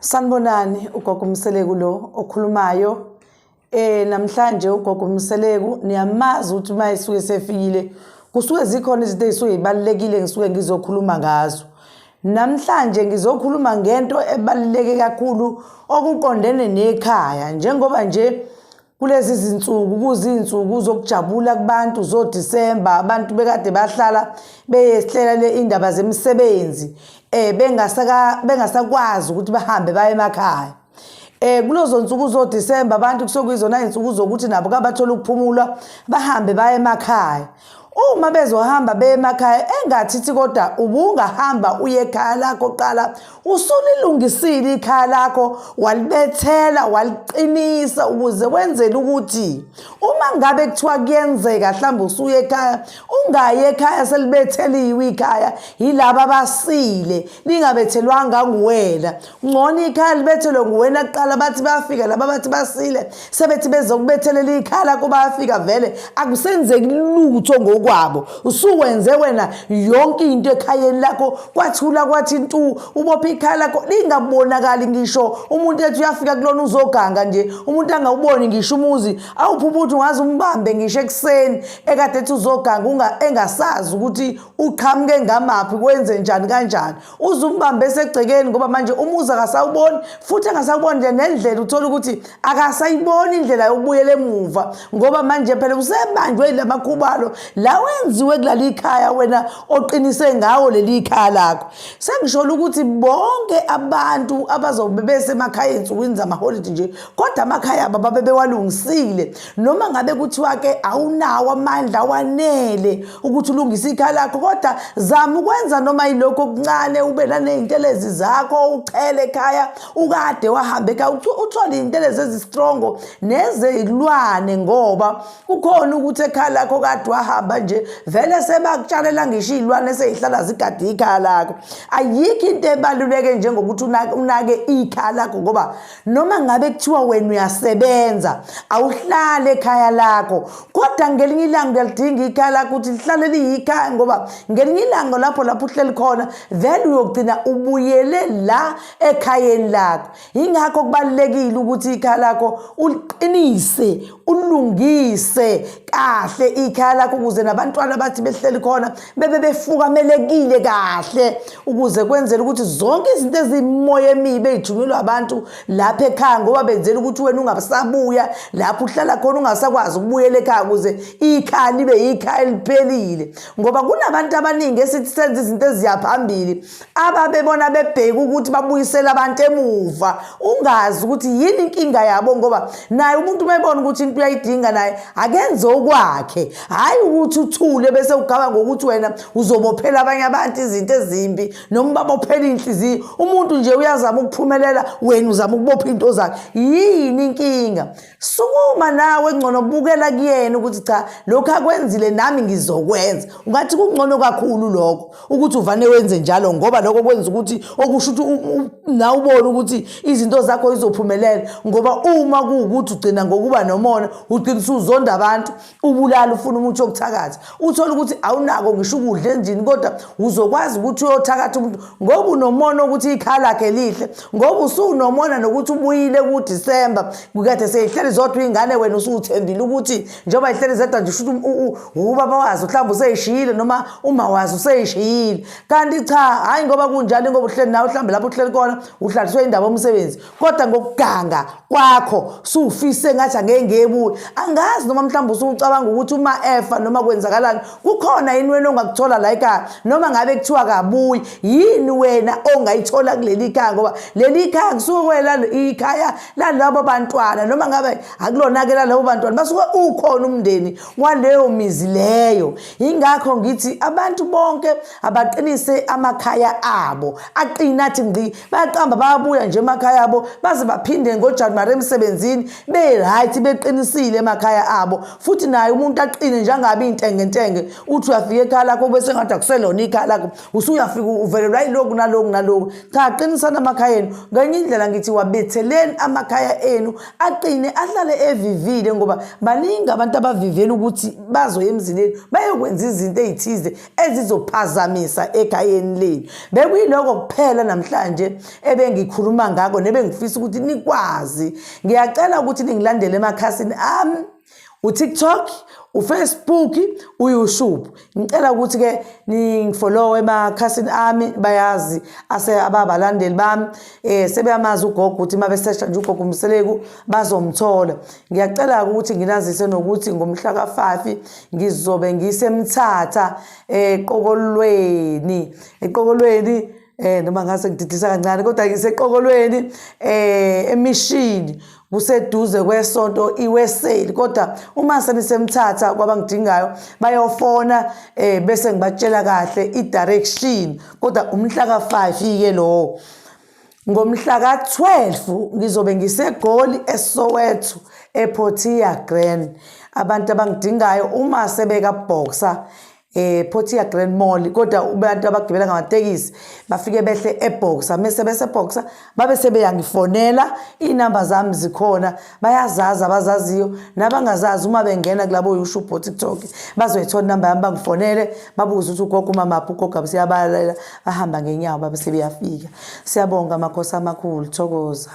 Sanibonani ugogo Mseleku lo okhulumayo eh namhlanje ugogo Mseleku niyamazi ukuthi uma esuke sefikile kusuke zikhona izinto ezisuke zibalekile ngisuke ngizokhuluma ngazo namhlanje ngizokhuluma ngento ebaluleke kakhulu okuqondene nekhaya njengoba nje kulezi zinsuku kuzinsuku zokujabula kubantu zoDisemba abantu bekade bahlala beyesihlela le indaba zemisebenzi eh bengasaka bengasakwazi ukuthi bahambe baye emakhaya eh kulozo nsuku zoDisemba abantu kusokuyizona izinsuku zokuthi nabo kabathola ukuphumula bahambe baye emakhaya Uma bezohamba beye emakhaya engathithi kodwa ubungahamba uye ekhaya lakho qala usulilungisile ikhaya lakho walibethela waliqinisa ukuze wenzele ukuthi uma ngabe kuthiwa kuyenzeka mhlawumbe usuye ekhaya ungayi ekhaya selibetheliwe ikhaya yilaba abasile lingabethelwanga nguwena ngcono ikhaya libethelwe nguwena kuqala bathi bayafika laba bathi basile sebethi bezokubethelela ikhaya lakho bayafika vele akusenzeki lutho ngokwabo usuwenze wena yonke into ekhayeni lakho kwathula kwathi ntu ubopha ikhaya lakho lingabonakali ngisho umuntu ethi uyafika kulona uzoganga nje umuntu angawuboni ngisho umuzi awuphi ubuthi ungaze umbambe ngisho ekuseni ekade ethi uzoganga engasazi ukuthi uqhamuke ngamaphi kwenze njani kanjani uze umbambe esegcekeni ngoba manje umuzi akasawuboni futhi angasawuboni nje nendlela uthole ukuthi akasayiboni indlela yokubuyela emuva ngoba manje phela usebanjwe yila makhubalo la wenziwe kulali ikhaya wena oqinise ngawo leli ikhaya lakho sengisholo ukuthi bonke abantu abazobe besemakhaya ensukwini zamaholidi nje kodwa amakhaya abo babe bewalungisile noma ngabe kuthiwa ke awunawo amandla wanele ukuthi ulungise ikhaya lakho kodwa zama ukwenza noma yilokho okuncane ube naney'ntelezi zakho uchele ekhaya ukade wahambe ekhaya uthole iy'ntelezi ezistrongo nezilwane ngoba kukhona ukuthi ekhaya lakho kade wahamba nje vele sebakutshalela ngisho iy'lwane seyihlala zigade ikhaya lakho ayikho into ebaluleke njengokuthi unake ikhaya lakho ngoba noma ngabe kuthiwa wena uyasebenza awuhlale ekhaya lakho kodwa ngelinye ilanga uyalidinga ikhaya lakho ukuthi lihlale liyikhaya ngoba ngelinye ilanga lapho lapho uhleli khona then uyogcina ubuyele la ekhayeni lakho yingakho kubalulekile ukuthi ikhaya lakho uliqinise ulungise kahle ikhaya lakho ukuze nabantwana bathi behleli khona bebe befukamelekile kahle ukuze kwenzele ukuthi zonke izinto ezimoya emibi ezijunyelwe abantu lapha ekhaya ngoba benzela ukuthi wena ungasabuya lapho uhlala khona ungasakwazi ukubuyela ekhaya ukuze ikhaya libe yikhaya eliphelile ngoba kunabantu abaningi esithi senza izinto eziyaphambili ababebona bebheke ukuthi babuyisele abantu emuva ungazi ukuthi yini inkinga yabo ngoba naye umuntu uma ebona ukuthi into uyayidinga naye akenze okwakhe hhayi ukuthi uthule bese ugaba ngokuthi wena uzobophela abanye abantu izinto ezimbi noma ubabophela iy'nhliziyo umuntu nje uyazama ukuphumelela wena uzama ukubopha iy'nto zakhe yini inkinga sukuma nawe ngcono bukela kuyena ukuthi cha lokhu akwenzile nami ngizokwenza ungathi kungcono kakhulu lokho ukuthi uvane wenze njalo ngoba lokho kwenza ukuthi okusho ukuthi nawe ubone ukuthi izinto zakho izophumelela ngoba uma kuwukuthi ugcina ngokuba nomona ugcina usuzonda abantu ubulala ufuna umuthi wokuthakatha uthole ukuthi awunako ngisho ukudla endlini kodwa uzokwazi ukuthi uyothakatha umuntu ngoba unomona ukuthi ikhaya lakhe lihle ngoba usuwunomona nokuthi ubuyile kudisemba kukade seyihleli zodwa iy'ngane wena usuwuthembile ukuthi njengoba ihleli zedwa nje shuthi ubaba wazi mhlawumbe useyishiyile noma uma wazi useyishiyile kanti cha hhayi ngoba kunjalo ingoba uhleli nawe mhlawumbe lapho uhleli kona uhlaliswe indaba omsebenzi kodwa ngokuganga kwakho suwufise ngathi angeke ngebuye angazi noma mhlawumbe usucabanga ukuthi uma efa noma kwenzakalani kukhona yini wena ongakuthola la ekhaya noma ngabe kuthiwa kabuyi yini wena ongayithola kuleli khaya ngoba leli khaya kusuke kwela ikhaya lalabo bantwana noma ngabe akulona-ke lalabo bantwana basuke ukhona umndeni waleyo mizi leyo yingakho ngithi abantu bonke abaqinise amakhaya abo aqine athi ngqi bayaqamba bayabuya nje emakhaya abo baze baphinde ngojanuwari emsebenzini be-right beqinisile emakhaya abo futhi naye umuntu aqine njengabi intengentenge uthi uyafika ekhaya lakho bese ngathi akuselona ikhaya lakho usuyafika uvelelwa yiloku naloku naloku cha aqinisani amakhaya enu ngenye indlela ngithi wabetheleni amakhaya enu aqine ahlale evivile ngoba baningi abantu abavivela ukuthi bazoya emzileni bayokwenza izinto ey'thize ezizophazamisa ekhayeni lenu bekuyiloko kuphela namhlanje ebengikhuluma ngako nebengifisa ukuthi nikwazi ngiyacela ukuthi ningilandele emakhasini ami utiktok ufacebook uyoutube ngicela ukuthi-ke ningifolowe emakhasini ami bayazi ase ababalandeli bami um sebeyamazi ugogo ukuthi uma besesha nje ugogo umseleku bazomthola ngiyacela-ke ukuthi nginazise nokuthi ngomhla kafafi ngizobe ngisemthatha eqokolweni eqokolweni eh noma ngase ngididisa kancane kodwa ngiseqokolweni eh emishini kuseduze kwesonto iweseli kodwa uma senisemthatha kwabangidingayo bayofona eh bese ngibatshela kahle i direction kodwa umhla ka 5 ike lowo Ngomhla ka-12 ngizobe ngiseGoli eSoweto ePortia Grand. Abantu abangidingayo uma sebeka boxer eh Portia Grand Mall kodwa abantu abagibela ngamatekisi bafike behle eBoxer mase bese eBoxer babe sebeyangifonela inamba zami zikhona bayazazi abazaziyo nabangazazi uma bengena kulabo youtube bo tiktok bazoyithola inamba yami bangifonele babuze ukuthi ugogo umamaphi ugogo abe siyabalalela bahamba ngenyawo babe sebeyafika siyabonga amakhosi amakhulu thokoza